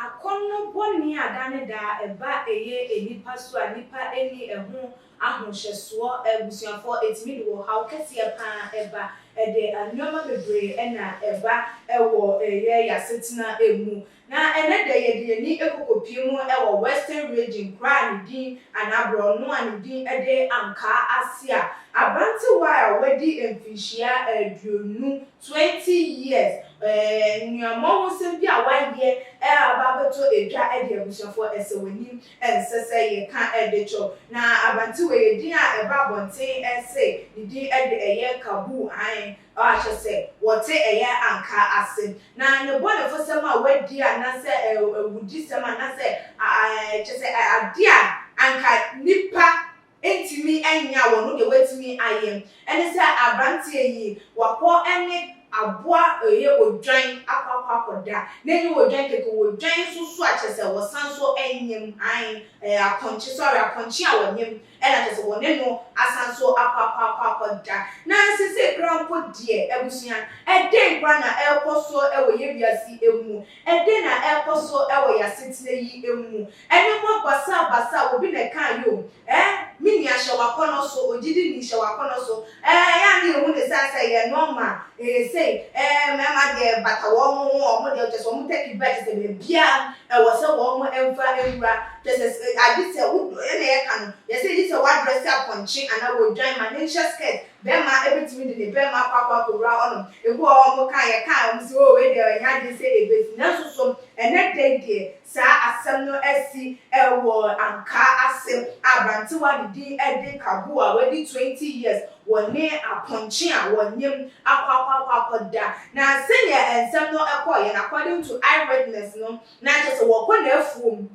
Akɔnnɔ bɔne a da ne da ɛba ɛyɛ nnipa so a nnipa nni ɛho ahohyɛsoɔ abusuafoɔ ɛtumi de ɔhaw kɛseɛ pa ara ba. Ɛde nnoɔma bebree na ɛba wɔ yɛn asetena mu. Na ɛnnɛ da yi yɛde yɛn ani kɔ kɔpie mu wɔ Western Region kuro a ne din anaa borɔno a ne din de Ankaa ase a aberantewa a wadi mfirihyia aduonu, twenty years, nnuammɔhosɛm bi a wayɛ aba abɛtɔ dwa de abusuafoɔ asɛw'anim ɛnsɛ sɛ yɛka de kyɔ. Na aberantewa yi edin a ɛba abɔnten se ne din de ɛyɛ Kaboo, aane, Ɔakyɛ sɛ wɔtse ɛyɛ anka ase, na ne bɔnefosɛm a wɔadi anasɛ awudisɛm anasɛ kyɛ sɛ ade a anka nnipa ntumi nyɛ a wɔno deɛ wɔatumi ayɛ. Ɛne sɛ aberanteɛ yi wakɔ ne aboa ɛyɛ odwan akɔ akɔ akɔda, na ɛnyɛ odwan kɛkɛ, odwan nso so a kyɛ sɛ wɔsan nso nyem, ae, apɔnkye, sorry, apɔnkye a wɔnyem Ɛna kyerɛ sɛ wɔne no asan nso akɔ akɔ akɔ akɔ da. Na sesei koraa mpo deɛ, abusua, ɛdɛn koraa na ɛrekɔ so wɔ yɛn wiase yi mu? Ɛdɛn na ɛrekɔ so wɔ yɛn asetena yi mu? Nneɛma basabasa, obi na ɛkaa yi o, ɛɛ, me nua hyɛ w'akɔnnɔ so, ogyidini hyɛ w'akɔnnɔ so, Ɛɛ yɛ a ne yɛhu ne saa sɛ ɛyɛ nɔma ɛyɛ sei ɛɛ mmarima deɛ ɛbata wɔn ho wɔn deɛ kyɛ sɛ wɔn tɛki bra kyɛ sɛ baabiara ɛwɔ sɛ wɔn ɛmfa ɛwura kyɛ sɛ agye sɛ wo ɛna yɛka no yɛ sɛ gye sɛ wo adrɛse apɔnkye anaa wo dwan ma ne nhyɛ skirt bɛrima ɛbɛtumi de ne bɛrima akɔ akɔ akɔwura hɔ nom ebi wɔ hɔ wɔn ka yɛka wɔn sɛ oo wei deɛ ɛnyɛ adeɛ sɛ ɛbɛsi nanso so ɛnɛ da yi deɛ Saa asɛm no asi wɔ Ankaa ase a abrantewa ne din de Kabu a wadi twenty years wɔ ne apɔnkye a wɔnyem akɔ akɔ akɔ akɔda. Na sɛnea nsɛm no kɔeɛ no according to eye witness no na kyerɛ sɛ wɔkɔ n'afuom,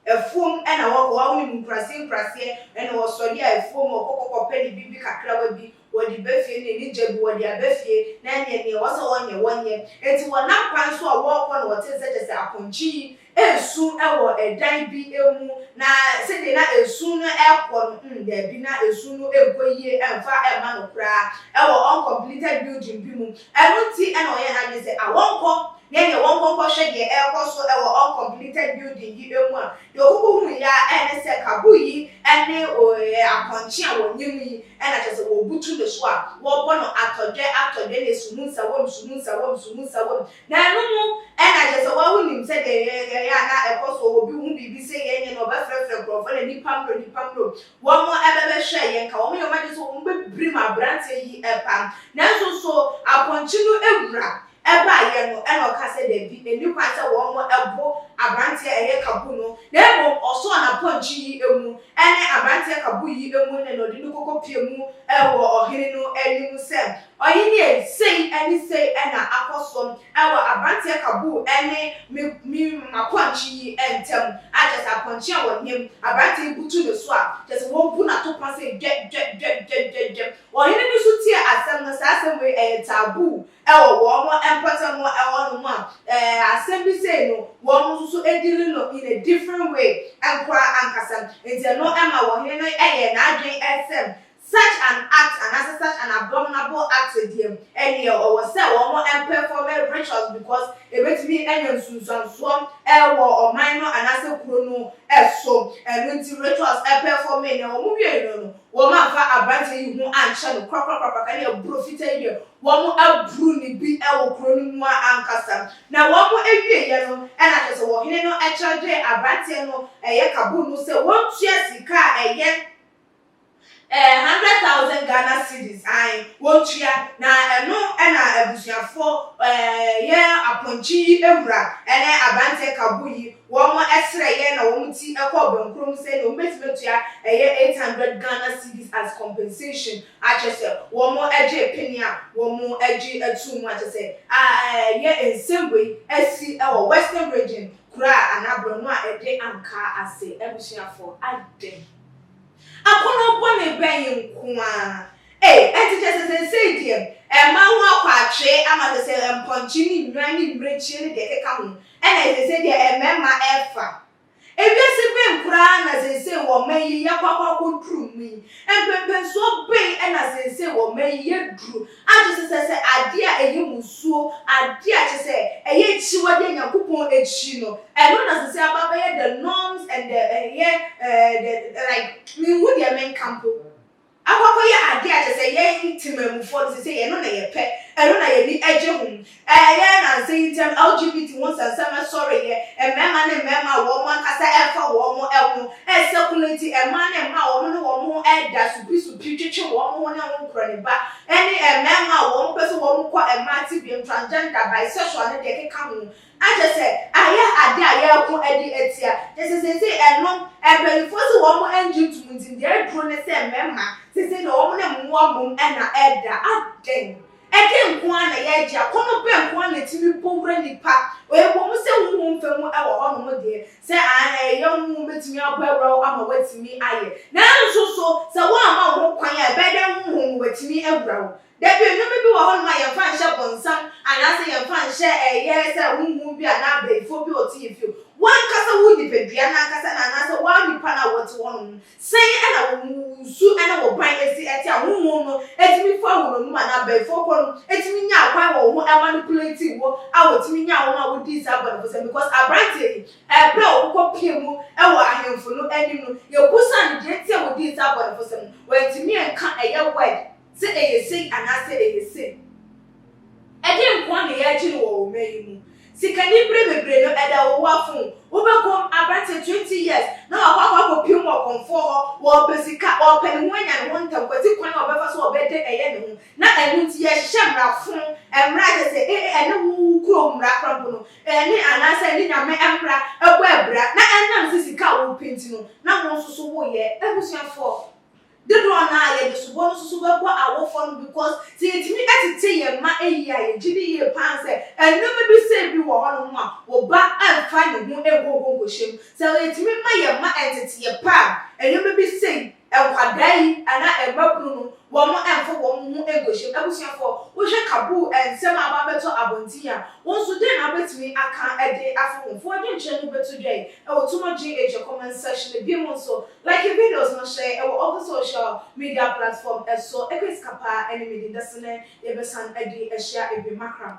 afuom na wɔkɔ, wonim nkurase nkuraseɛ na wɔsɔre a afuom wɔkɔ kɔkɔpɛ ne biribi kakrawa bi wɔde ba fie ne ne gya bi wɔde aba fie na ɛneɛ neɛ ɛwɔ sɛ wɔnyɛ wɔnyɛ enti wɔnam kwan so a wɔrekɔ no wɔte nsɛ kyɛ sɛ apɔnkye yi resu wɔ ɛdan bi mu na sɛdeɛ na esu no rekɔ no mm daabi na esu no nkɔ yie mfa mma no koraa ɛwɔ uncompleted building bi mu Ɛno nti na ɔyɛɛ n'adwene sɛ awɔnkɔ na ɛneɛ wɔnkɔ nkɔhwɛ deɛ ɛrekɔ so wɔ uncompleted building yi mu a deɛ ɔkoko huiɛ ara ne sɛ Kabul yi ne ɔyɛ apɔnkye a wɔnyem yi na kyerɛ sɛ wɔbutu ne so a wɔbɔ no atɔdwɛ atɔdwɛ ne suhunsawam suhunsawam suhunsawam na ɛno mu na kyerɛ sɛ wawo nim sɛdeɛ yɛyɛ a na ɛkɔ so obi hu biribi sɛ yɛnyɛ no ɔbɛfrɛfrɛ nkurɔfoɔ na nipa mmrɛ nipa mmrɛ Wɔn ɛbɛbɛhwɛ yɛ nka wɔn yɛ wɔn agye sɛ wɔn bɛ birim abranteɛ yi ɛba nanso nso apɔnkye no ɛwura ɛbaa yɛ no ɛna ɔka sɛ dabi ɛni kwan sɛ wɔn ɛbo abranteɛ ɛyɛ kabu no na mmom ɔsɔɔ na pɔnkye yi ɛmu ɛne abranteɛ kabu yi ɛmu ne na ɔde no kɔkɔ pie mu ɛwɔ ɔhene no anim sɛ Ɔhenie, sei ne sei na akɔ so wɔ aberanteɛ Kabul ne me me m'apɔnkye yi ntam, a kyerɛ sɛ apɔnkye a wɔnyem, aberanteɛ yi butu ne so a, kyerɛ sɛ wɔbu no atopɔn sɛ dwɛ, dwɛ, dwɛ, dwɛ, dwɛ, dwɛ. Ɔhene no nso tiee asɛm no, saa asɛm wei ɛyɛ taboo wɔ wɔn mpɔtam hɔ nom a, ɛɛ, asɛm bi sei no, wɔn nso so deal no in a different way nkoraa ankasa. Nti ɛno maa ɔhene no yɛɛ n'adwene sɛ Such an act anaasɛ such an abominable act deɛ, ɛneɛ ɔwɔ sɛ wɔmpɛfɔme rituals because ɛbɛtumi anya nsunsuansoɔ wɔ ɔman no anaasɛ kuro no so. Ɛno nti rituals pɛfɔmee na wɔn wieeɛ no no, wɔn amfa aberanteɛ yi ho ankyɛ no korakorakorakora ka deɛ borɔ fitaa yi deɛ wɔn aburu no bi wɔ kuro no mu ara ankasa. Na wɔn wieeɛ no na kyerɛ sɛ ɔhene no kyerɛgyee aberanteɛ no ɛyɛ kaboom no sɛ wɔntua sika a ɛyɛ Ɛɛ hundred thousand Ghana cedis ae wɔtua na ɛno na abusuafoɔ ɛɛ yɛ apɔnkye yi wura ɛne abranteɛ kabo yi wɔn srɛ yɛ na wɔn ti kɔɔ bɛnkorɔ mu sɛ deɛ wɔn bɛtumi atua ɛyɛ eight hundred Ghana cedis as compensation akyɛ sɛ wɔn gyee pene a wɔn gye atuu mu akyɛ sɛ ɛɛ yɛ nsɛm wei asi wɔ western region kura anaa brɔno a ɛde ankaa ase abusuafoɔ adɛn. Akɔnnɔ bɔne bɛn yi nko ara? Ei, ɛnte kyerɛ sɛ seesei deɛ ɛrema ho akɔ atwee ama te sɛ mpɔnkye ne nnwan ne mmirekyie ne deɛ ɛkeka ho na ɛyɛ seesei deɛ mmarima refa? Ewiase bɛn koraa na seesei wɔ mma yi yɛakɔ akɔ akɔduru mu yi? Mpɛmpɛnsoɔ bɛn na seesei wɔ mma yi yɛduru Agye sesɛ sɛ adeɛ a ɛyɛ mmusuo, adeɛ a kyerɛ sɛ ɛyɛ akyiwadeɛ a Nyankopɔn akyi no, ɛno na ɛsɛ sɛ aba abɛyɛ the norms and the ɛyɛ the like menhu deɛ menka mpo. Akɔ akɔyɛ adeɛ a kyerɛ sɛ yɛn Temanmufoɔ no seisei ɛno na yɛpɛ, ɛno na yɛn ani gye ho. Ɛyɛ nnansa yi ntɛm LGBT ho nsɛnsɛm ɛsɔreeɛ, mmarima ne mmarima a wɔn ankasa ɛmfa wɔn ho ɛsɛ kunu nti, mmaa ne mmaa a wɔn ne wɔn ho ɛda supisupii twetwe wɔn ho ne ho nkoraniba, ɛne mmarima a wɔn pɛ sɛ wɔn kɔ mmaa tebeam, transgender, bisexual ne deɛ ɛkeka ho. Na kyerɛ sɛ ayɛ adeɛ a yɛreko de atia, kyerɛ sɛ seesei ɛnom mpaninfoɔ se wɔn ɛngye ntom nti deɛ aduro ne sɛ mmarima seesei deɛ wɔn ne mmoa mmom na ɛda, adɛn Ɛdɛn nko ara na yɛregye? Akɔnnɔ bɛn nko ara na etumi bɔ wura nnipa? Ɛwɔ mu sɛ honhom fam wɔ hɔnom deɛ, sɛ aane a, ɛyɛ honhom bɛtumi abɔ awura wo ama woatumi ayɛ. Nanso so sɛ woamma wo ho kwan a, ɛbɛyɛ dɛn honhom no watumi awura wo? Dabi, nnoɔma bi wɔ hɔnom a yɛmfa nhyɛ bonsam anaasɛ yɛmfa nhyɛ ɛyɛ sɛ honhom bi anaa abayifoɔ bi a ɔte yɛn fie. W'ankasa wo nipadua no ankasa no anaasɛ wo ara nipa no a wote hɔnom no Sɛn na wo su na wo kwan si te a honhom no tumi fa wo nnommum anaa abayifoɔ kɔ no tumi nya kwan wɔ wo ho manipulate wo a wɔtumi nya wo ma wodii saa bɔnefosɛm because aberanteɛ yi ɛberɛ a ɔkokɔ pie mu wɔ ahemfo no anim no yɛbusaa no deɛ nti a wɔdii saa bɔnefosɛm no wantumi anka ɛyɛ word Sɛ ɛyɛ sei anaasɛ ɛyɛ sei. Ɛdeɛn nkoa na yɛregye no wɔ ɔman yi mu? Sikani berɛ bebree no ɛda wo ho afom. Wobɛkɔm aberanteɛ twenty years na wakɔ akɔ akɔpie mu wɔ kɔmfoɔ hɔ, ɔrepɛ sika, ɔrepɛ ne ho anya ne ho ntɛm, kwati kwan a ɔbɛfa so a ɔbɛde ɛyɛ ne ho. Na ɛno nti yɛhyehyɛ mmara fom, mmara a kyerɛ sɛ ee ɛne wo wo kurom mmara koraa mpo no, ɛne anaasɛ ɛne Nyame mmara bɔ abira, na ɛnam sɛ sika a worepɛ nti no na wo nso so woreyɛ. Abusuafoɔ, Dodoɔ no ara yɛde soboɔ no susu bɛbɔ awofoɔ no because sɛ yɛtumi tete yɛn mma yie a yɛgye di yie pa ara sɛ nnoɔma bi sei bi wɔ hɔnom a wo ba mfa ne ho nkɔ hɔ nkɔhyɛ mu. Sɛ yɛtumi ma yɛn mma nteteɛ pa a nnoɔma bi sei nkwadaa yi anaa mmabunu no wɔn mfa wɔn ho nkɔhyɛ mu. Abusuafoɔ wohwɛ kabuu nsɛm a aba abɛtɔ abɔnten yi a, wo nso dɛn na wobɛtumi aka de afa ho? Fa w'adwenkyerɛ no bɛto dwa yi wɔ Tuma Gye Agya comment section no. Bio nso Like videos no hyɛ ɛwɔ ɔpo social media platform ɛso ɛkɔ esika paa ɛne me di dase ne yɛbɛsan ɛde ɛhyia ebien makram.